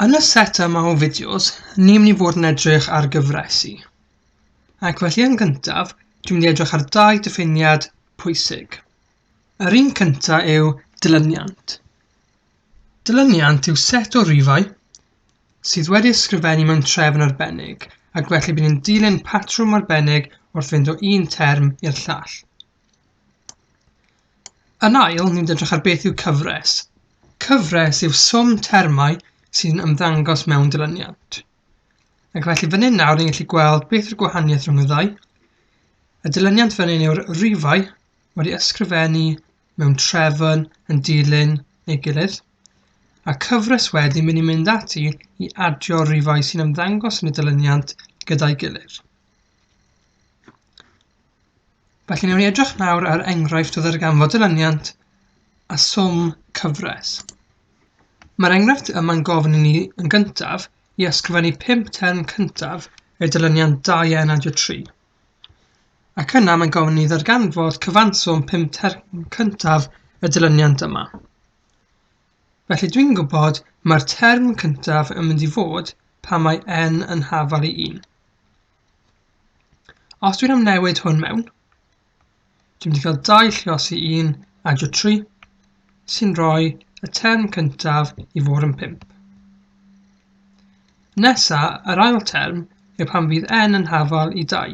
Yn y set yma o fideos, ni'n mynd i fod yn edrych ar gyfresu. Ac felly yn gyntaf, dwi'n mynd i edrych ar dau diffiniad pwysig. Yr un cynta yw dilyniant. Dilyniant yw set o rifau sydd wedi ysgrifennu mewn trefn arbennig ac felly bydd yn dilyn patrwm arbennig wrth fynd o un term i'r llall. Yn ail, ni'n edrych ar beth yw cyfres. Cyfres yw swm termau sy'n ymddangos mewn dilyniant. Ac felly fan hyn nawr ni'n gallu gweld beth yw'r gwahaniaeth rhwng y ddau. Y dilyniant fan hyn yw'r rifau wedi ysgrifennu mewn trefn yn dilyn ei gilydd. A cyfres wedi mynd i mynd ati i adio rifau sy'n ymddangos yn y dilyniant gyda'i gilydd. Felly newn ni edrych nawr ar enghraifft o ddarganfod dyluniant a swm cyfres. Mae'r enghraifft yma'n gofyn i ni yn gyntaf i ysgrifennu pump term cyntaf i'r dyluniant 2 a nad yw 3. Ac yna mae'n gofyn i ni ddarganfod cyfanswm pump term cyntaf y dyluniant yma. Felly dwi'n gwybod mae'r term cyntaf yn mynd i fod pan mae n yn hafal i 1. Os dwi'n am newid hwn mewn, dwi'n mynd i cael dau llios i un a jo tri, sy'n rhoi y term cyntaf i fod yn pimp. Nesa, yr ail term yw pan fydd n yn hafal i dau.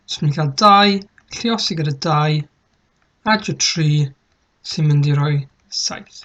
So dwi'n cael dau lliosi gyda dau a jo tri sy'n mynd i roi saith.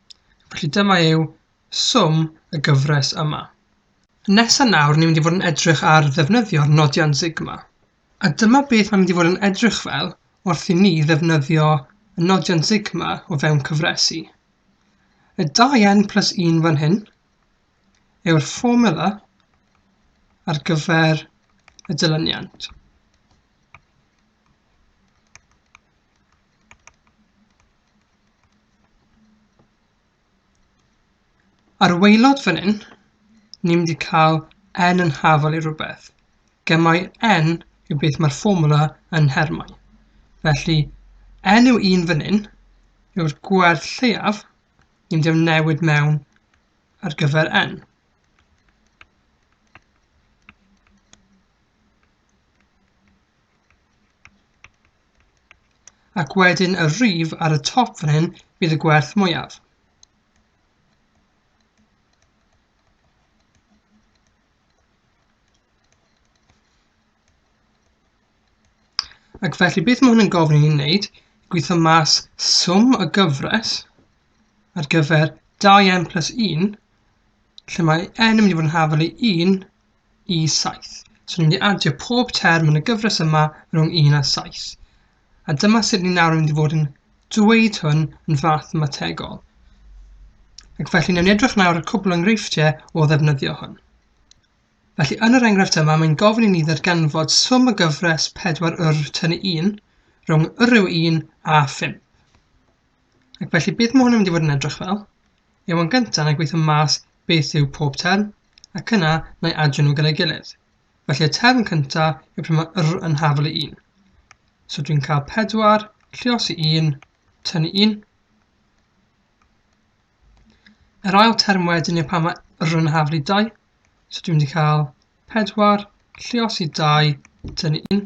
Felly dyma yw swm y gyfres yma. Nesa nawr ni'n mynd i fod yn edrych ar ddefnyddio'r nodiant sigma. A dyma beth mae'n mynd i fod yn edrych fel wrth i ni ddefnyddio y nodiant sigma o fewn cyfresu. Y 2n plus 1 fan hyn yw'r fformula ar gyfer y dilyniant. Ar y waelod fan hyn, ni'n mynd i cael n yn hafol i rhywbeth. Gemau n yw beth mae'r fformwla yn nhermau. Felly, n yw 1 fan hyn yw'r gwerth lleiaf ni'n mynd i am newid mewn ar gyfer n. Ac wedyn y rhif ar y top fan hyn fydd y gwerth mwyaf. Ac felly beth mae hwn yn gofyn i ni wneud? Gweithio mas swm y gyfres ar gyfer 2n plus 1, lle mae n yn mynd i fod yn hafel i 1 i 7. So ni'n mynd i adio pob term yn y gyfres yma rhwng 1 a 7. A dyma sut ni'n nawr yn mynd i fod yn dweud hwn yn fath mategol. Ac felly ni'n edrych nawr ar cwbl enghreifftiau o ddefnyddio hwn. Felly yn yr enghraifft yma mae'n gofyn i ni ddarganfod swm y gyfres 4 yr tynnu 1 rhwng yr yw 1 a 5. Ac felly beth mae hwn yn mynd i fod yn edrych fel? Yw yn gyntaf yn gweithio mas beth yw pob term, ac yna na i adio nhw gyda'i gilydd. Felly y term cyntaf yw pryd mae r yn hafel i 1. So dwi'n cael 4, llios i 1, tynnu 1. Yr ail term wedyn yw pan mae r yn hafel i 2. So dwi'n mynd i cael 4, llios i 2, tynnu 1.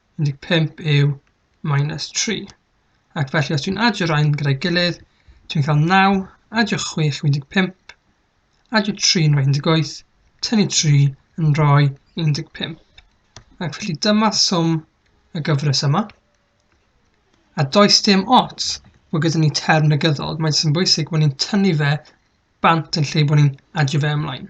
15 yw minus 3. Ac felly os dwi'n adio rhain gyda'i gilydd, dwi'n cael 9, adio 6 yw 15, adio 3 yn rhoi 18, tynnu 3 yn rhoi 15. Ac felly dyma swm y gyfres yma. A does dim ots bod gyda ni term negyddol, mae'n sy'n bwysig bod ni'n tynnu fe bant yn lle bod ni'n adio fe ymlaen.